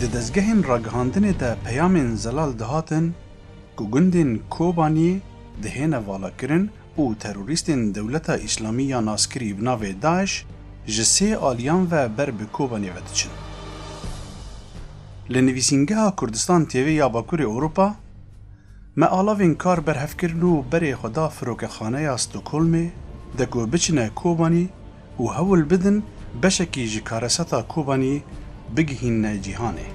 Di dezgehên ragihandinê de peyamên zelal dihatin ku gundên Kobaniyê dihêne valakirin û terorîstên Dewleta Îslamî ya naskirî bi navê DAIŞ ji sê aliyan ve ber bi Kobanê ve diçin. Li Nivîsîngeha Kurdistan TV ya Bakurê Ewropa, Me alavên kar berhev kirin û berê xwe da firokexaneya Stockholmê de ku biçine Kobanî û hewl bidin beşekî ji karesata Kobanî bigihînne cîhanê.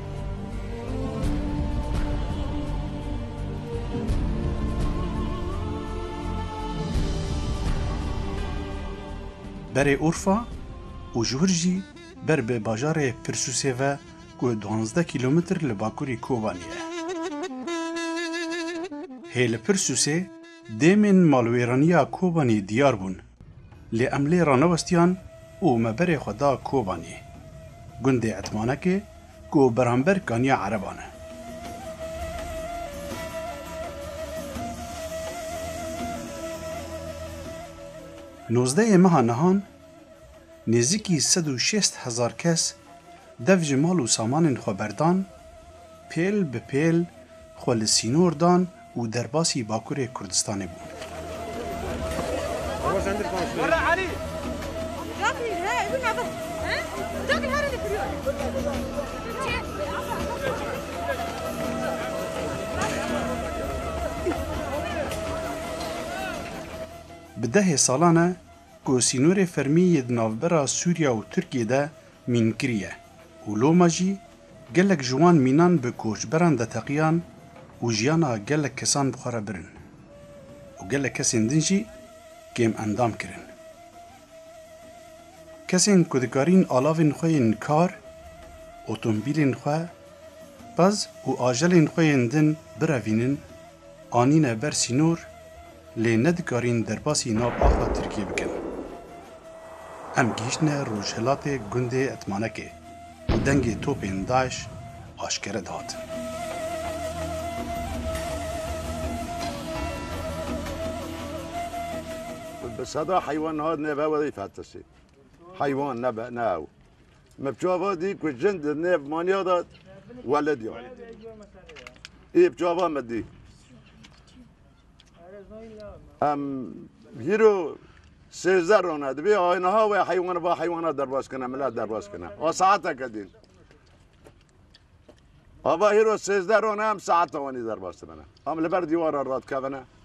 Berê Urfa û ji wir jî ber bi bajarê Pirsûsê ve ku duwazdeh kîlometr li bakurî Kobanî ye. Hê li Pirsûsê dêmên malwêraniya Kobanî diyar bûn. Lê em lê ranewestiyan û me berê xwe da Kobaniyê, gundê Etmanekê ku beramber kaniya Ereban e. Nozdehê meha nihan nêzîkî sed û şêst hezar kes dev ji mal û samanên xwe berdan, pêl bi pêl xwe li sînor dan, û derbasî Bakurê Kurdistanê bû. Bi dehê salan e ku sînorê fermî yê di navbera Sûriya û Tirkiyê de Mînkirî ye û loma jî gelek ji wan mînan bi koçberan de teqiyan û jiyana gelek kesan bi xwe re birin û gelek kesên din jî kêmendam kirin. Kesên ku dikarîn alavên xwe yên kar, otombîlên xwe, pez û ajelên xwe yên din birevînin Anîne ber sînor lê ne dikarîn derbasî nav axa Tirkiyê bikin. Em gihîştine rojhilatê gundê Etmanekê û dengê topên DAIŞ aşkere dihat. Bi seda heywan niha nêve werî fetişî. Heywan nebe ne ew. Me çava dî ku jin di nêv maniya de welêt ya. Ê çava me dî. Em hîro sêzde rona divê aynaha we heywana va heywana derbas kine mila derbas kine. A saeteke dîn. Ava hîro sêzde rona em saeta wanî derbas dimene. Em li ber dîwara radkevine.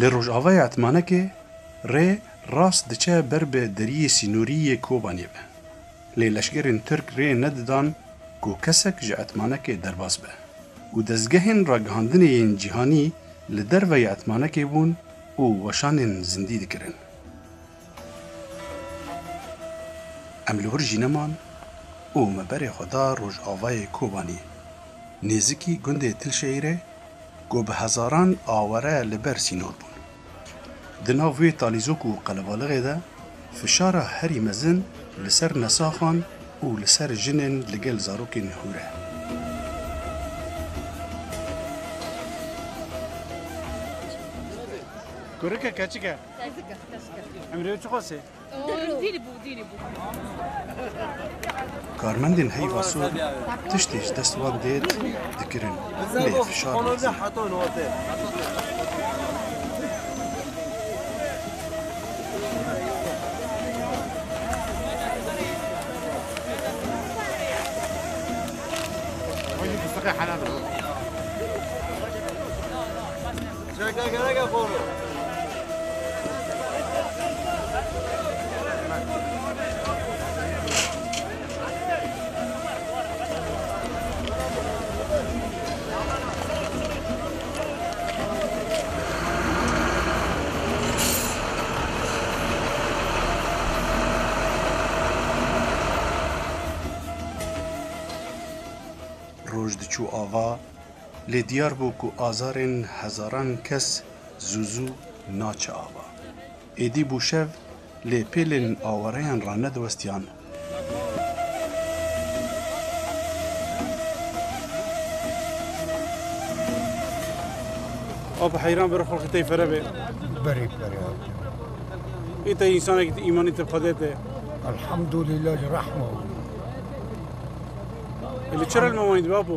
Li rojavayê Etmanekê rê rast diçe ber bi deriyê sînorî yê Kobaniyê ve. Lê leşkerên Tirk rê nedidan ku kesek ji Etmanekê derbas be û dezgehên ragihandinê yên cîhanî li derveyê Etmanekê bûn û weşanên zindî dikirin. Em li wir jî neman û me berê xwe da rojavayê Kobanî. Nêzikî gundê Tilşehîrê ku bi hezaran aware li ber sînor bûn. Di nav wê talîzok û qelebaliqê de fişara herî mezin li ser nesaxan û li ser jinên li gel zarokên hûr e. Kurike keçik e. Karmendên heyva sor tiştê ji dest wan dêr dikirin lê fişar Roj diçû ava. Lê diyar bû ku azarên hezaran kes zû zû naçe ava. Êdî bû şev, lê pêlên awareyan ranediwestiyan. Ava heyran biro xelkê tey fere bê. Berê fere hatê. Ê tey însanekî ti îmanî ti xwedê tê. Elhamdulîla ji rehma wî. Li çi rel mewanî dibê apo?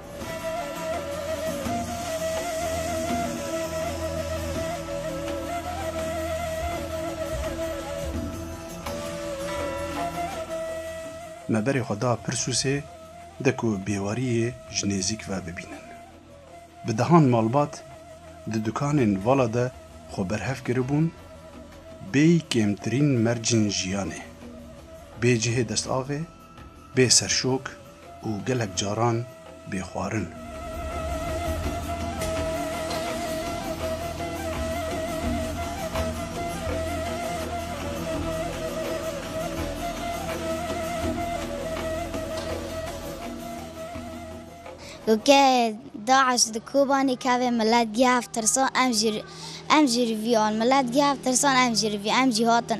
Me berê xwe da Pirsûsê de ku bêwariyê ji nêzîk ve bibînin. Bi dehan malbat di dukanên vala de xwe berhev kiribûn, bêyî kêmtirîn mercên jiyanê, bê cihê destavê Bê serşok û gelek caran bê xwarin. Ku ke DAIŞ di Kobanê kevê milet gihev tirsan em jî em jî rivî an milet gihev tirsan em jî rivî em jî hatin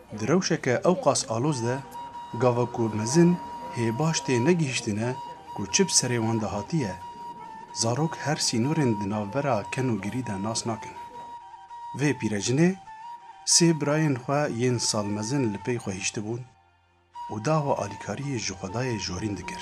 Di rewşeke ewqas aloz de gava ku mezin hê baş tê negihîştine ku çi bi serê wan de hatiye, zarok her sînorên di navbera ken û girî de nas nakin. Vê pîrecinê sê birayên xwe yên sal mezin li pey xwe hîştibûn û dava alîkariyê ji xwedayê jorîn dikir.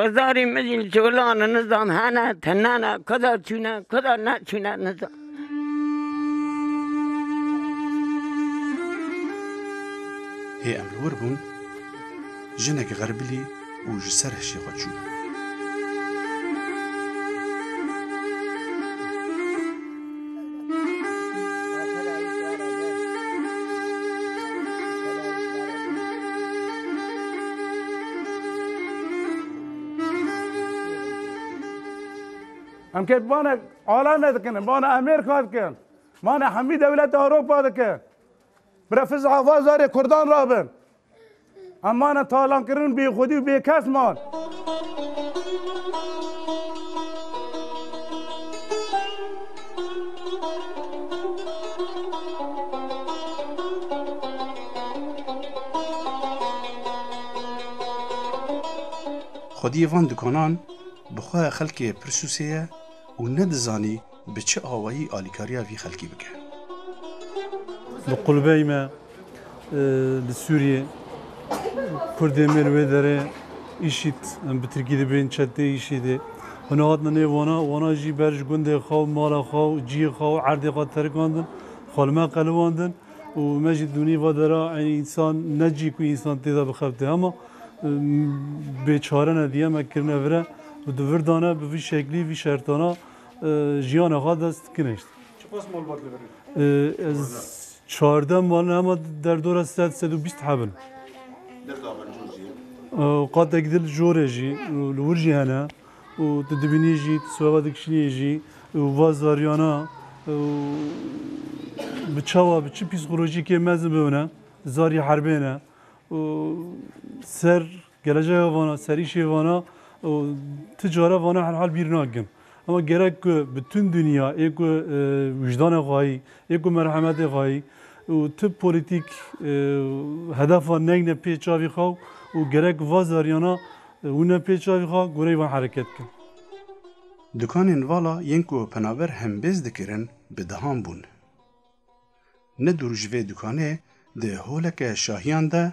Ozarê min jî colan in nizam hene tune ne kuda çûne kuda neçûne nizam. Hê em li wir bûn jinek xerbilî û ji ser hişê xwe çû. Em kê bana alame dikin, bana Amerîka dikin, bana hemî dewleta Ewropa dikin. Bira fiz avazarê Kurdan rabin. Em mane talankirin bêxwedî û bêkes man. Xwediyê van dikanan bi xwe ya xelkê pirsûsê ye û ne dizanî Bi çi awayî alîkariya vî xelkî bike? Li qulbeyê me li Sûriyê Kurdên me li wê derê IŞID em bi tirkî dibêjin çeteyê IŞIDê xwe nehatin nê wana, wana jî ber ji gundê xwe û mala xwe û cihê xwe û erdê xwe terikandin, xwe li me qelibandin û me jî di nîva de re eynî însan ne cih ku însan tê de bixebite hema bêçare ne diye me kirine vir e û di vir dane bi vî şeklî vî şertana. Jiyana xwe dest kinişt. Çiqas malbat li vir in? Ez çardeh malin hema derdora sed sed û bîst heb in. Deh daxan cor jî ye? Qatek dil jor e jî û li wir jî hene û tu dibînî jî tu siweva dikişînî jî û va zariyana bi çawa bi çi psîkolojîkê mezin bibine zarî herbê ne û ser Geleceya vana, serîşê vana û ti care vana herhal bîr nakin. Ema gerek ku bitûn dinya ê ku wijdanê xwayî, ê ku merhemetê xwayî û ti polîtîk hedefa neyne pê çavî xwe û gerek va zaryana wine pê çavî xwe goreyî wan hereket bikin. Dukanên vala yên ku penaber hembêz dikirin bi dehan bûn. Ne dûr ji vê dukanê di holeke şahiyan de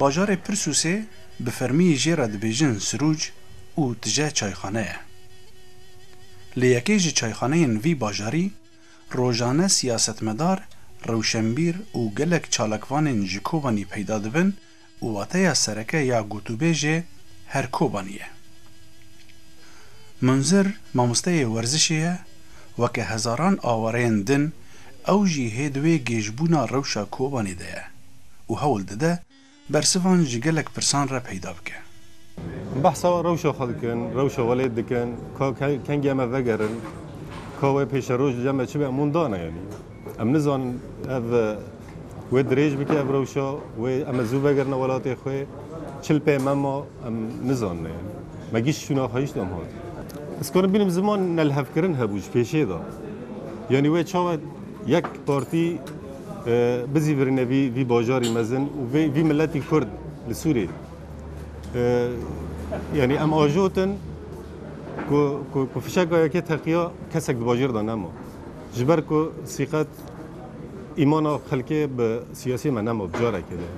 Bajarê Pirsûsê bi fermî jê re dibêjin Sirûc û tije çayxane ye. Li yekê ji çayxaneyên vî bajarî rojane siyasetmedar, rewşenbîr û gelek çalakvanên ji Kobanî peyda dibin û wateya sereke ya gotûbêjê her Kobanî ye. Munzir mamosteyê werzişê ye, weke hezaran awareyên din ew jî hê di wê gêjbûna rewşa Kobanî de ye û hewl dide bersivan ji gelek pirsan re peyda bike. Behsa rewşa xwe dikin, rewşa welêt dikin, ka kengê me vegerin, ka wê pêşeroj li cem de çi be, em wan dane yanî. Em nizanin ev wê dirêj bike ev rewşa, wê em ê zû vegerine welatê xwe, çil pê me ma em nizanine. Me giş şûna xwe hîşt em hat. Ez karim bînim ziman nelhevkirin hebû ji pêşê de. Yanî wê çawa yek partî bizîvirîne vî vî bajarî mezin û vê vî miletî kurd li Sûriyê. Yanî em ajotin ku ku ku fişeka yekê teqiya kesek di bajêr de nema. Ji ber ku sîqet îmana xelkê bi siyasî me nema bi carekê de.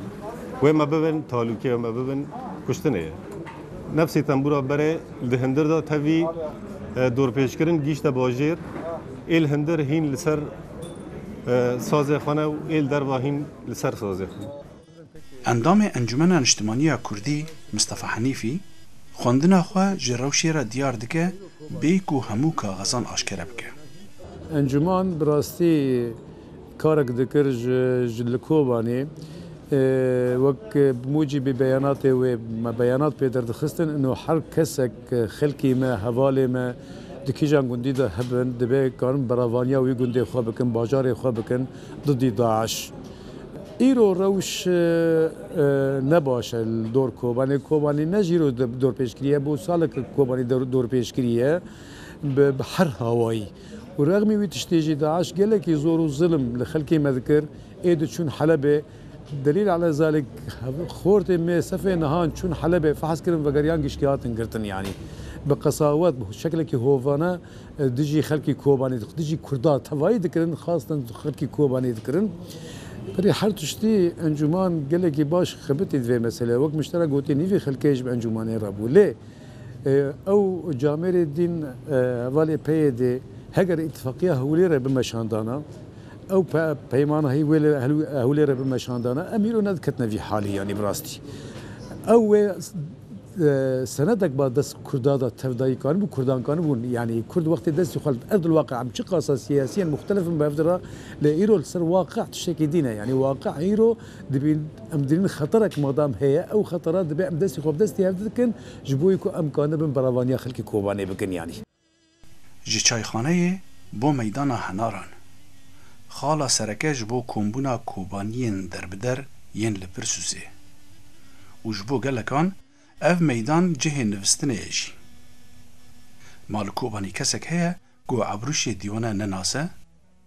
Wê me bibin talûkê, wê me bibin kuştinê ye. Nefsê tembûra berê li di hindir de tevî dorpêçkirin gihîşte bajêr. Êl hindir hîn li ser sazê xwe ne û êl derva hîn li ser sazê xwe. Endamê Encûmena Niştimanî ya Kurdî Mistefa Henîfî xwendina xwe ji rewşê re diyar dike bê ku hemû kaxizan aşkere bike. Encûman bi rastî karek dikir ji li Kobanê wek bi mûcîbî beyanatê wê me beyanat pê derdixistin ino her kesek xelkî me hevalê me di kîjan gundî de hebin dibe karin beravaniya wî gundê xwe bikin bajarê xwe bikin didî DAIŞ. Îro rewş ne baş e li dor Kobanê. Kobanî ne ji îro dorpêçkirî ye, bo salek e Kobanî dorpêçkirî ye bi her hawayî. Û rexmî wî tiştê jî DAIŞ gelekî zor û zilm li xelkê me dikir. Ê diçûn Helebê Delîl Ala Zalik xortê me sefê nihan çûn Helebê fehs kirin vegeriyan giştî hatin girtin yanî bi qesawet bi şeklekî hovane. Dijî xelkî Kobanê di dijî Kurdan tevayî dikirin xwestin xelkî Kobanê dikirin. Pirê her tiştî encûman gelekî baş xebitî di vê meseleyê. Wek Miştera gotî nîvê xelkê ji bi encûmanê re bû. Lê ew camêrê dîn hevalê PYDê heger îtîfaqiya Hewlêre bimeşandana, ew peymana hî wê li Hewlêre bimeşandana em îro ne diketine vî halî yanî bi rastî ew wê Senedek ba dest Kurda da tevdayîkan bû, Kurdankan bûn. Yanî Kurd wextê destê xwe li bi erdil waqî em çi qasa siyasiyên muxtelif in bi hev de re lê îro li ser waqî tiştekî dîn e. Yanî waqî îro dibîn em dibînin xeterek madam heye ew xetera dibe em destê xwe bi destê hev de dikin ji bo wî ku em kanibin beravaniya xelkê Kobanê bikin yanî. Ji çayxaneyê bo meydana henaran. Xala sereke ji bo kombûna kobaniyên derbider yên li Pirsûsê û ji bo gelekan ev meydan cihê nivîstinê ye jî. Ma li Kobanî kesek heye ku Ebrûşê Dîwane nenase?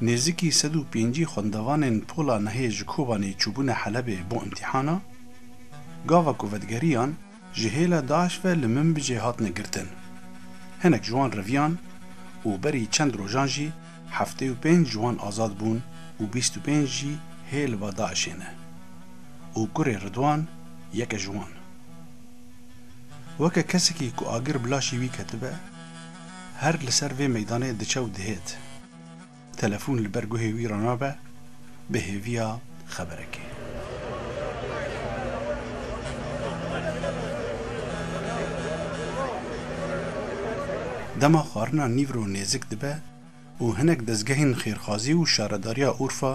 Nêzîkî sed û pêncî xwendevanên pola nehê ji Kobanê çûbûne Helebê bo îmtîhana. Gava ku vedigerîyan ji hêla DAIŞ ve li Minbicê hatine girtin. Hinek ji wan reviyan û berî çend rojan jî heftê û pênc ji wan azad bûn û bîst û pênc jî hê li ba DAIŞê ne û kurê Ridwan yek e ji wan. Weke kesekî ku agir bi laşî wî ketibe, her li ser vê meydanê diçe û dihêt. Telefon li ber guhê wî re nabe bi hêviya xeberekê. Dema xwarina nîvro nêzik dibe û hinek dezgehên xêrxwazî û şaredariya Urfa,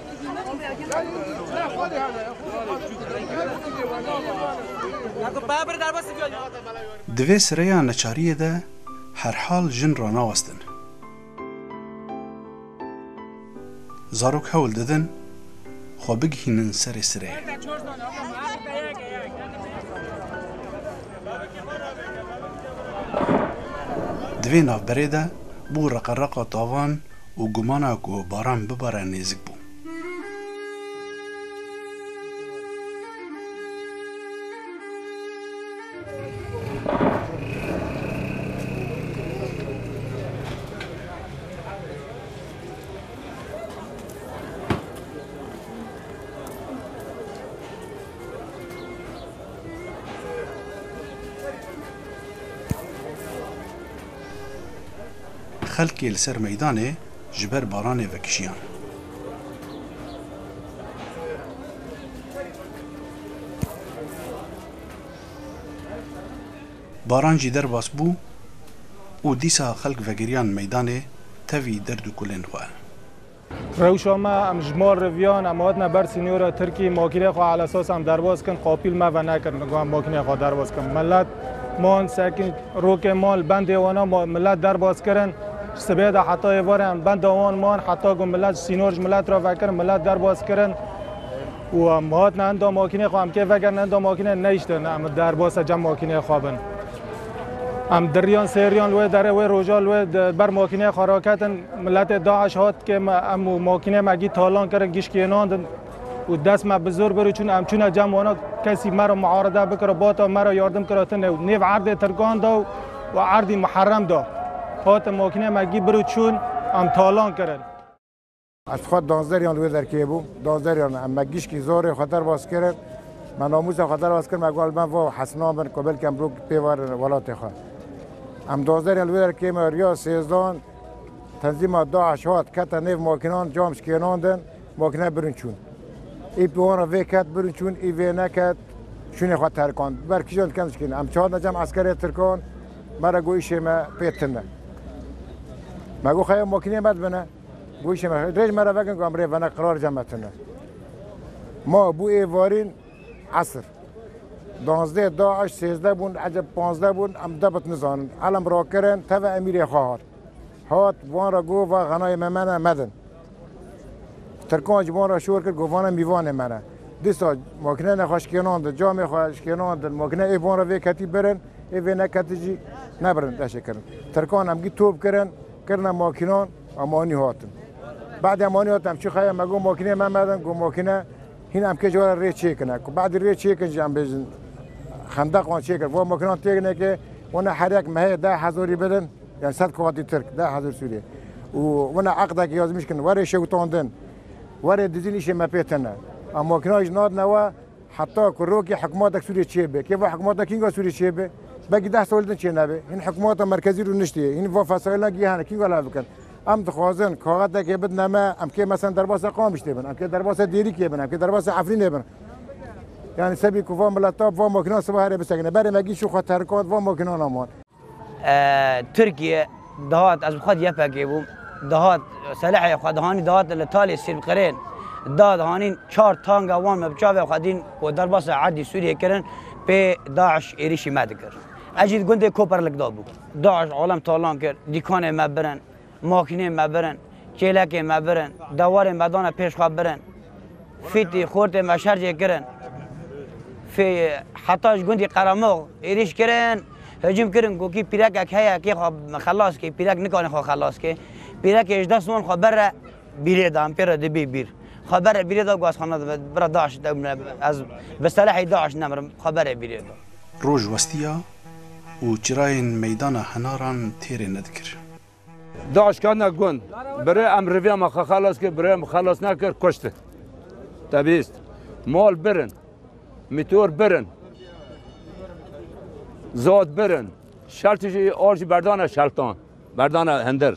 Di vê sireya neçariyê de herhal jin ranawestin. Zarok hewl didin xwe bigihînin serê sireyê. Di vê navberê de bû reqereqa tavan û gumana ku baran bibare nêzik bû. Xelkê li ser meydanê ji ber baranê vekijiyan. Baran jî derbas bû û dîsa xelk vegeriyan meydanê tevî derd û kulên xwe. Rewşa me, em ji mal re viyan, em hatine ber sînora Tirkî, makîneyê xwe ala sas em derbas kirin, xapîl me ve nekirin li ku em makîneyê xwe derbas kirin. Milet man sekin rokê man li bendê wan a, milet derbas kirin, ji sibê de heta êvarê em benda wan man, heta ku milet ji sînor ji milet re vekirin, milet derbas kirin. û em hatin enda makînê xwe, em kê vegerin enda makînê neyiştin em derbasa cem makînê xwe bin. Em diriyan sêriyan li wê derê wê roja li wê di ber makînê xwe re ketin miletê DAIŞ hat kê me em û makînê me gî talan kirin gî şikênandin û dest me bi zor birû çûn em çûne cem wana kesî me re muarede bikira bata me re yardim kira tune û nêv erdê tirkan da û erdî muherrem da hatin makînê me gî birû çûn em talan kirin. Ez dixwaz danzderiyan li wê derkeyê bû. Danzderiyan em me gişkî zorê xwe derbas kirin. Me namûsa xwe derbas kirin, me got li me va hesna bin ku belkî em rok pê werin welatê xwe. Em danzderiyan li wê derkeyê me riya sêzdan tenzîma DAIŞ hat kete nêv makînan cam ji kênan din, makîne birin çûn. Î bi wan re vê ket birin çûn, î vê neket şûnê xwe terikand. Bi ber kijan dikem dikîn. Em çandin cem eskerê Tirkan me re got îşê me pê tune. Me got xeya makîneyê me dibine. Goşê me, rêj me re vekin ku em rê vene qirar cem etine. Ma bû êvarîn esir. Danzdeh da eş sêzdeh bûn eceb panzdeh bûn em debit nizanin. Elem rakirin teve emîrê xwe hat. Hat van re got va xenayê me mene medin. Tirkan ji van re şor kir got vane mîvanê mene. Dîsa makinene xwe şkênandin, camê xwe şkênandin, makine ê van re vê ketî birin, ê vê neketî jî nebirin leşê kirin. Tirkan em gî top kirin. Kirina makînan em anî hatin. Badê em anî hatin em çi xeya me got makîneyê me merdin got makîne hîn em kê ji were rê çêkine. Ku badî rê çêkin jî em bêjin xendeqan çêkir. Va makînan têk neke wina herek me heye deh hezarî bidin yan sed kuwatî tirk deh hezar sûrî û wina eqdekî yazmîş kirin were şewitandin were dizîn îşê me pê tine. Em makînan jî nadine we. Heta ku rokê hikûmatek Sûriyê çêbe, kêfa hikûmata kînga Sûriyê çêbe? Belkî deh sal din çênebe. Hîn hikûmata merkezî rûniştî, hîn va fesaîlan gihane kînga li hev bikin. Em dixwazin kaxetekê bidine me, em kê meselên derbasê Qamişlê bin, em kê derbasê Dêrikê bin, em kê derbasê Efrînê bin. Yanî sebî ku va miletab, va makînan sibe herê bisekine. Berê me gîşî xwe terikand, va makînana man. Tirkiye dihat ez bi xwe YPG'ê bûm dihat selehê xwe dihanî dihat li Talê Sîrqirên da dihanîn çar tanga wan me bi çavê xwe dîn ku derbasa erdî Sûriyê kirin pê DAIŞ êrîşî me dikir. Ez jî di gundê Koperlik da bûm. DAIŞ alem talan kir, dîkanê me birin. Makîneyên me birin, kêlekên me birin, dewarên me dane pêş xwe birin. Fîtî, xortên me şercê kirin. Fê heta ji gundî Qeremox êrîş kirin, hicûm kirin ku kî pîrekek heye kê xwe xelas kê, pîrek nikane xwe xelas kê. Pîrekê ji dest wan xwe bere bîrê da, em pê re dibê bîr. Xwe bere bîrê da got xwe na divê bira DAIŞ de min e, ez bi selehê DAIŞ nemirim, xwe bere bîrê da. Roj westiya û çirayên meydana henaran têrê nedikir. DAIŞ kene gund. Birê em rêviya me xwe xelas kir, birê em xelas nekir kuştin. Te bihîst. Mal birin. Mîtor birin. Zad birin. Şertî jî ar jî berdane şeltan. Berdane hindir.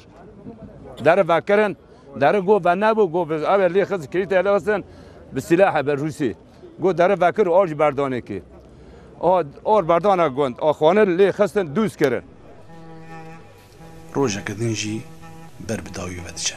Deri vekirin. Deri go venebû go ev lê xist kirîtê lê xistin bi sîlahê bi Rûsî. Got dere vekir û a ji berdanê kê. A a berdana gund a xwanin lê xistin dûz kirin. Rojeke din jî ber bi dawî ve diçe.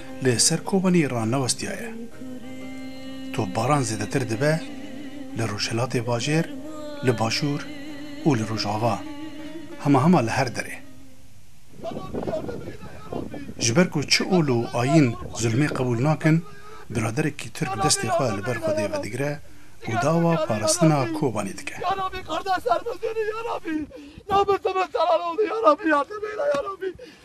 Lê ser kobanî ranewestiyaye. Topbaran zêdetir dibe li Rojhilatê Bajêr, li Başûr û li Rojava, hema hema li her derê. Ji ber ku çi ol û ayîn zulmê qebûl nakin, biraderekî Tirk destê xwe li ber Xwedê vedigire û dawa parastina Kobanî dike.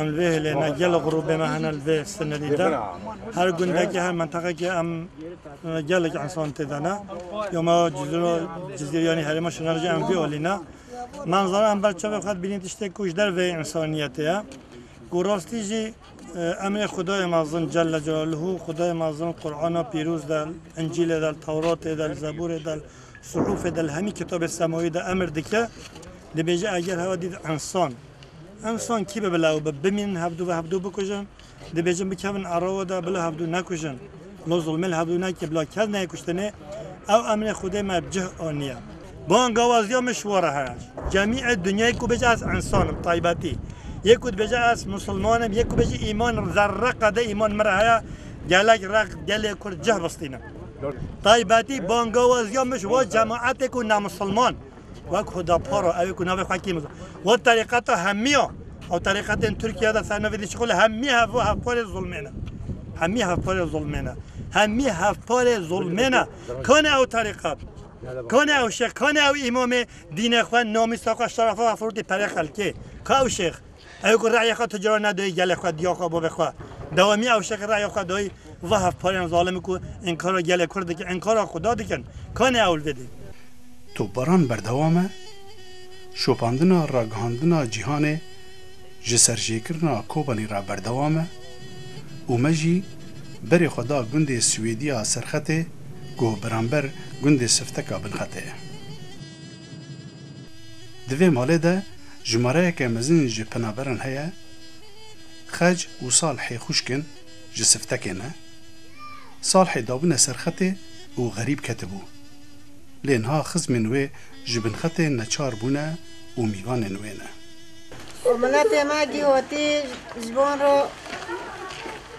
Em vê hilê me gelek grûbê me hene li vê sînorî de. Her gundekê, her menteqekê em gelek însan tê de ne. Yo me cizgîryanî herêma şinar jî em vê alî ne. Me nizane em ber çavê xwe dibînîn tiştê ku ji derveyê însaniyetê ye. Ku rastî jî emrê Xwedayê mezin Celle Celalehu, Xwedayê mezin Qur'ana pîroz de, Încîlê de, Tewratê de, Zeburê de, Suhufê de, li hemî kitabê semawî de emir dike. Dibêje eger hewa dît însan. Insan kî bi bila û bi bimînin hevdû ve hevdû bikujin, dibêjin bikevin ero we de bila hevdû nekujin. Lo zulmê li hevdû neke bila kes neyê kuştinê, ew emrê Xwedê me bi cih aniye. Bang awaziya me şiwa re heye. Cemî ê dinyayê ku bêje ez insan im taybetî, yê ku dibêje ez musilman im, yê ku bêje îman im zerre qede îman min re heye, gelek rex di gelê Kurd cih bistînin. Taybetî bangawaziya me ji wan cemaetê ku nemusilman, wek Huda Paro ew ê ku navê xwe kêm got terîqeta hemî ya ew terîqetên Tirkiye de ser nivîsî şixulê hemî hev hevparê zilmê ne. Hemî hevparê zilmê ne. Hemî hevparê zilmê ne. Kanê ew terîqet, kanê ew şêx, kanê ew îmamê dînê xwe, namîsa xwe, şerefa xwe firûtî perê xelkê? Ka ew şêx? Ew ku rayê xwe tu caro nedoyî gelê xwe, diya xwe, bavê xwe, dewamî ew şexî rayê xwe doyî va hevparên zalim ku înkara gelê Kurd dikin, înkara Xuda dikin, kanê ewil vedê. Topbaran berdewam e şopandina ragihandina cîhanê ji serjêkirina Kobanî re berdewam e û me jî berê xwe da gundê Swêdî ya Serxetê ku beramber gundê Sifteka Binxetê ye. Di vê malê de jimareyeke mezin ji penaberan heye, Xec û Salhê xwişk in ji Siftekê ne. Salhê dabûne ser xetê û xerîb ketibû. Lê niha xizmên wê ji bin xetê neçar bûne û mîvanên wê ne. Miletê me gihotî ji bo ro.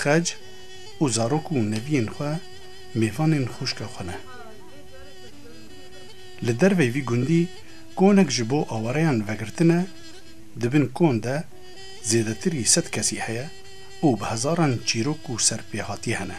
Xec û zarok û neviyên xwe mêvanên xwişka xwe ne. Li derveyî vî gundî konek ji bo awareyan vegirtine, di bin kon de zêdetirî sed kesî heye û bi hezaran çîrok û serpêhatî hene.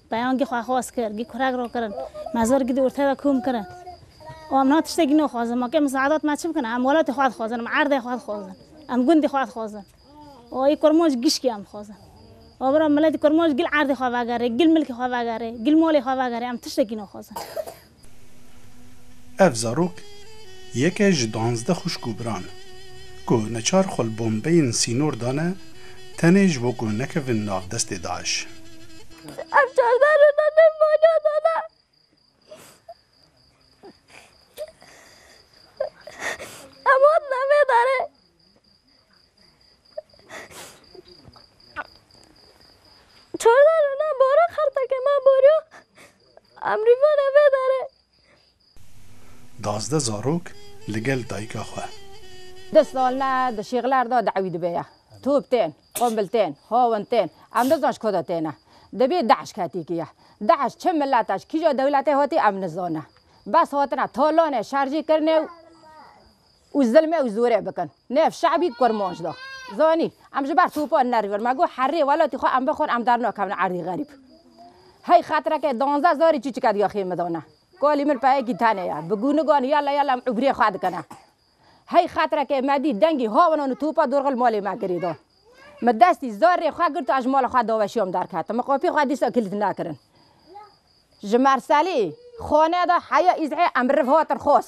Peyan gî xwe xwas kir, gî kurek ro kirin. Me zor gî di urtê de kûm kirin. Û em niha tiştekî nûxwazin. Ma kê misaedat me çi bikin? Em welatê xwe dixwazin, em erdê xwe dixwazin, em gundê xwe dixwazin. Û ê kurmanc gişkî em dixwazin. Wa biro miletî kurmanc gil erdê xwe vegerê, gil milkê xwe vegerê, gil malê xwe vegerê. Em tiştekî nûxwazin. Ev zarok yeke ji duanzdeh xwişk û biran ku neçar xwe li bombeyên sînor dane tenê ji bo ku nekevin nav destê DAIŞ. Ev çardeh roja dev maliya dane. Em hatine vê derê. Çardeh roja bora xertekê me boriya. Emrîvan eve dere. Dazdeh zarok li gel dayika xwe. Di sal me di şîxlar de dawî dibe ya. Top tên, qumbil tên, hawin tên. Em nizan ji ku de têne. Dibê DAIŞ ketikî ya. DAIŞ çi milete, ji kîja dewletê hatî em nizane. Bes hatine talanê şer jî kirine û. û zilmê ew zorê bikin ne ev şe'bî kurmanc da zanîn em ji ber topan nerivin me got herrê welatî xwe em bixwin em dernakevin erdî xerîb hey xetireke danzdeh zarî çîçike diyaxê min dane kalî min peyekî tenê ye bi gûnigan yala yala em ubrê xwe dikine hey xetireke me dît dengî hawinan û topa dorxil malê me kirî da min destî zar rê xwe girt a ji mala xwe daweşiyam derketim min qapî xwe dîsa kîlit nekirin ji merselî xaneda heya îzhê em riv hatin xas.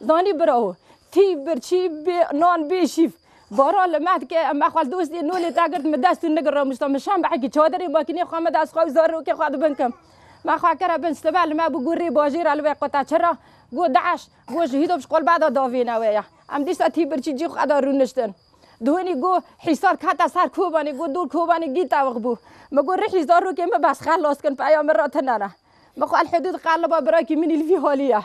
Zanî birawo, tî, bir, çî, bê, nan, bê, şîf. Baran li me dike, em exwel dostê nû lê te girt min dest û nigir ramûşta min şam behekî çadirê makînê xwe me dest xwe û zarokê xwe di bin kim. Me xwe kire bin sitebe li me bû got rê bajêr e li wê qute çi ra? Got DAIŞ, got ji hîdop ji qolba de davêne wê ye. Em dîsa tî bir çî cî xwe de rûniştin. Dûnî got Hîsar kete ser Kobanê, got dor Kobanê gît tewix bû. Me got rihî zarokê min bes xelas kin peya min ra tune ne. Me xwe elhedû diqeliba birakî min î li vî halî ye.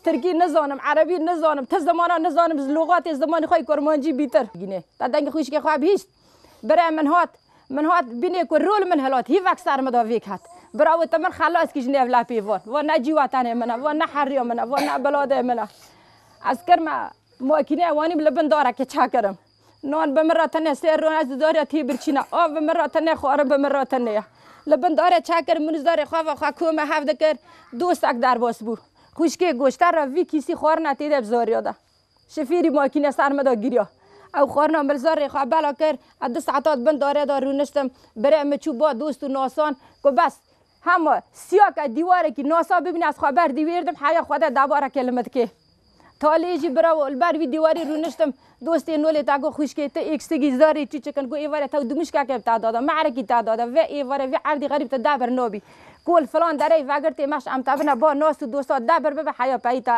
Tirkî nizanim, erebî nizanim, ti zimanan nizanim ji lûxatê zimanê xwe yê kurmancî bîtir. Gînê te dengê xwîşkê xwe bihîst. Bire min hat, min hat bînê ku rû li min hilat, hîvek ser min da vêk hat. Bira wê te min xelas kir ji nêv lepêvan. Va ne cîwa tenê min e, va ne heriya min e, va ne biladê min e. Ez kirme makîneyê wanîm li bin darekê çekirim. Nan bi min re tene sê rûn ez di darê tî birçîna. Av bi min re tene xwarin bi min re tene ye. Li bin darê çekir min zarê xwe ve xwe kome hev dikir dostek derbas bû. Xwîşkê goşter re vî kîsî xwarina tê de bi zariya de. Şifîrî makîne ser min de giriya. Ew xwarina min li zarê xwe bela kir. Ez du saeta di bin darê de rûniştim. Birê min çû ba dost û nasan ku bes Hema, siya ke dîwarekî nasa bibîne ez xwe ber dîwêrdim heya xwe de davareke li min dikê. Taliyê jî bira û li ber vî dîwarî rûniştim. Dostê Nolê te got xwîşkê tu êkstigî zarê çûçik in. Got êvarê tew dimûşkeke bi te de da, me'rekî te de da. Vê êvarê vê erdî xerîb tu debir nabî. Ku li filan dereyê vegirtê meş em tevine ba nas û dosta debir bibe heya peyî te.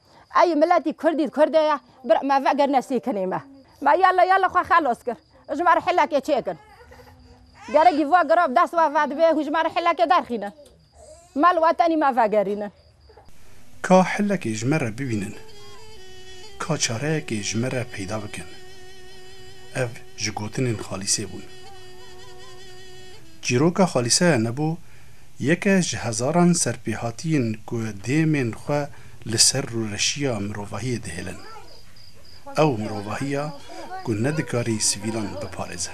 Ey miletî kurdî kurde ye bir me vegir nesîkinî me. Me yala yala xwe xelos kir. Ji me re hilekê çêkin. Gerek jî va girav dest va vedibê hûn ji me re hilekê derxînin. Me li wetenî me vegerînin. Ka hilekê ji me re bibînin. Ka çareyekê ji me re peyda bikin. Ev ji gotinên Xalîsê bûn. Çîroka Xalîse nebû yeke ji hezaran serpêhatiyên ku dêmên xwe li ser rûreşiya mirovahiyê dihêlin. Ew mirovahiya ku nedikarî sivîlan biparêze.